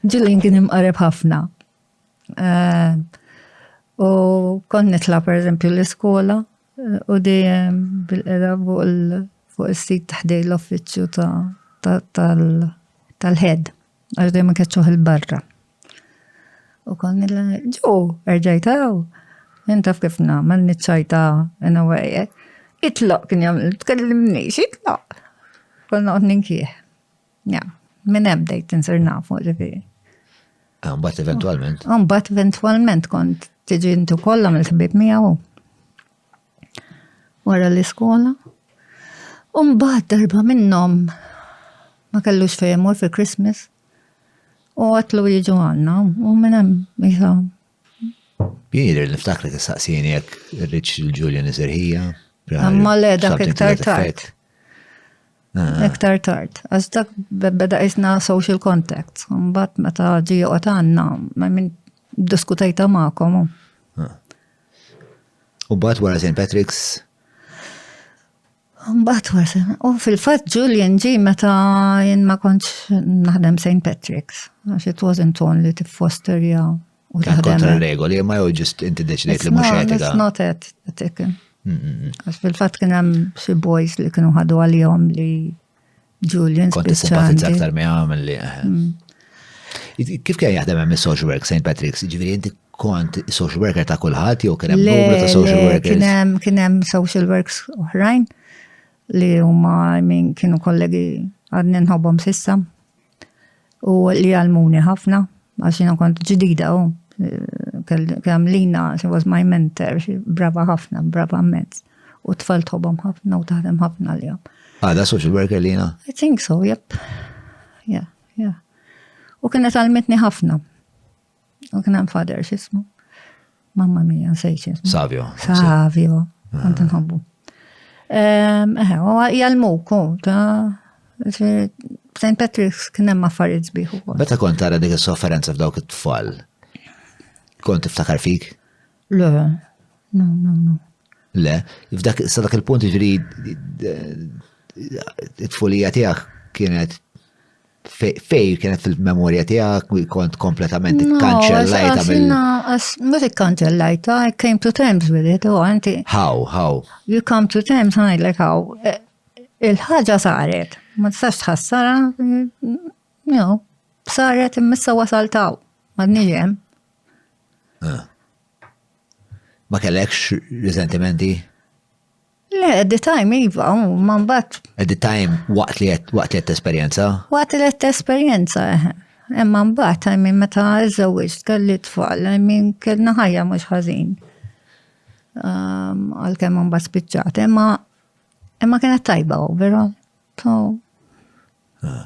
Ġilin kien imqareb ħafna. Eh, u kon nitla per eżempju l-iskola eh, u dejjem bil-qeda fuq il-sit taħdej l-offiċju tal-ħed, għax dejjem keċċuħ il-barra. U kon nitla, ġo, erġajtaw, jentaf kif namel nitċajta in a way, eh. itlaq kien jamil, tkellimni, itlaq. Konna għod ninkieħ. Ja, minn hemm bdejt insir nafu ġifieri. Ah, mbagħad eventwalment. Ah, mbagħad eventwalment kont tiġi intu kollha mill-ħbib miegħu. Wara l-iskola. U mbagħad darba minnhom ma kellux fejn imur fil-Christmas. U għatlu jiġu għandna u minn hemm Jidri niftakri tistaqsini jekk rridx il-Ġulja niżerħija. Imma le dak iktar tard. Ah. Iktar tard. Għax dak beda isna social contact. Mbagħad meta ġi joqgħod għandna, ma minn diskutajta magħkom. Ah. U bat wara St. Patrick's? Mbagħad wasal. U fil-fatt Julian ġi meta jien ma kontx naħdem St. Patrick's, għax it wasn't only to foster ja u taħdem. Kontra regoli, ma jew ġist inti deċidejt li mhux etika. It's not ethical. Għax fil-fatt kien hemm xi boys li kienu ħadu għalihom li Julian Kont simpatizza aktar mi għamil li. Eh. Mm. Kif kien jaħdem hemm is-social work St. Patrick's? Ġifieri inti kont social worker ta' kulħadd jew kien hemm numru ta' social workers? Kien hemm kien hemm social works oħrajn li huma min kienu kollegi għadni nħobbhom sissa. u li għalmuni ħafna, għax jina kont ġdida u kemm lina, she was my mentor, brava ħafna, brava mezz. U tfal tħobom ħafna u taħdem ħafna li jom. Għada social worker lina? I think so, yep. Yeah, yeah. U kienet għalmetni ħafna. U kien hemm fader x'ismu. Mamma mia, nsejt ismu. Savio. Savio, kont ah. nħobbu. Ehm, eħe, u jgħalmuk, ta' St. Patrick's kien hemm affarijiet sbieħ ukoll. Meta kont tara dik is-sofferenza f'dawk it-tfal, kont tiftakar fik? Le, no, no, no. Le, f'dak sa dak il-punt ġri it-tfulija tiegħek kienet fej kienet fil-memorja tijak, kont kompletament kanċellajta mill. Mux kanċellajta, I came to terms with it, u oh, għanti. How, how? You come to terms, like how. Eh, il-ħagġa saret, ma tistax tħassara, no, saret immissa wasaltaw, ma d-nijem. Ah. Ma kellekx riżentimenti? Le, at the time, iva, ma mbagħad. At the time, waqt li qed waqt li qed esperjenza? Waqt li qed esperjenza, eh. Imma mbagħad, I mean, meta żewġt kelli tfal, I mean, kellna ħajja mhux ħażin. Um, għalkemm mbagħad spiċċat, imma imma kienet tajba, vera. So, ah.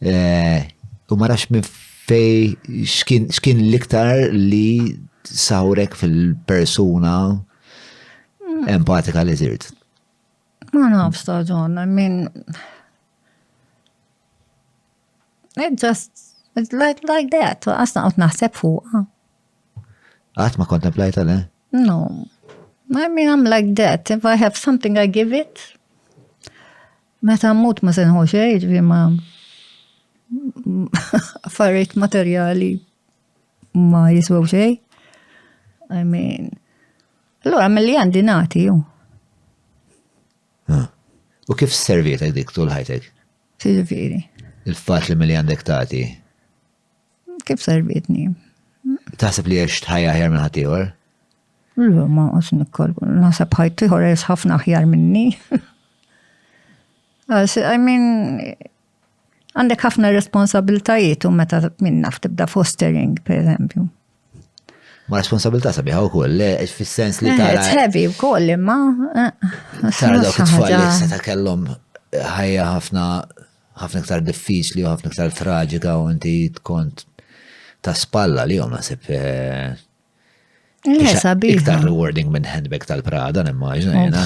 Eh, u ma nafx minn fej xkien l-iktar li sawrek fil-persuna mm. empatika li zirt. Ma nafx ta' ġon, I mean, it just, it's like, like that, għasna għot naħseb fuqa. Għat ma kontemplajta le? No, I mean, I'm like that, if I have something I give it, Meta mmut ma se nħu xejn, ġifieri ma affarijiet materjali ma jiswew xejn. I mean, allura mill-li għandi nagħti ju. U kif servietek dik tul ħajtek? Ġifieri. Il-fat li mill-li għandek tagħti. Kif servitni? Taħseb li għex tħajja ħjar minn ħatiħor? Lu, ma għos nikkol, naħseb ħajtiħor għex ħafna ħjar minni. I mean, għandek ħafna responsabiltajiet u meta minn naf tibda fostering, per eżempju. Ma responsabilta sabiħa u koll, fil-sens li eh, tara. Tħebi u koll, imma. Eh, tara dawk it-tfal li ta' kellom ħajja ħafna ħafna iktar diffiċli u ħafna iktar traġika u inti tkont ta' spalla li jom nasib eh, iktar rewarding minn handbag tal-Prada, nimmaġna jena.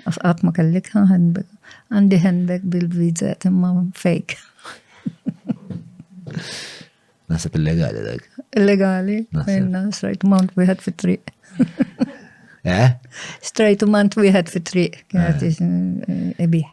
Għat ma kellik handbag. Għandi handbag bil-vizet imma fake. Nasib illegali dak. Illegali, minna, strajt mount wieħed fit-triq. Eh? Strajt mount wieħed fit-triq, kienet eh. eh, ibiħ.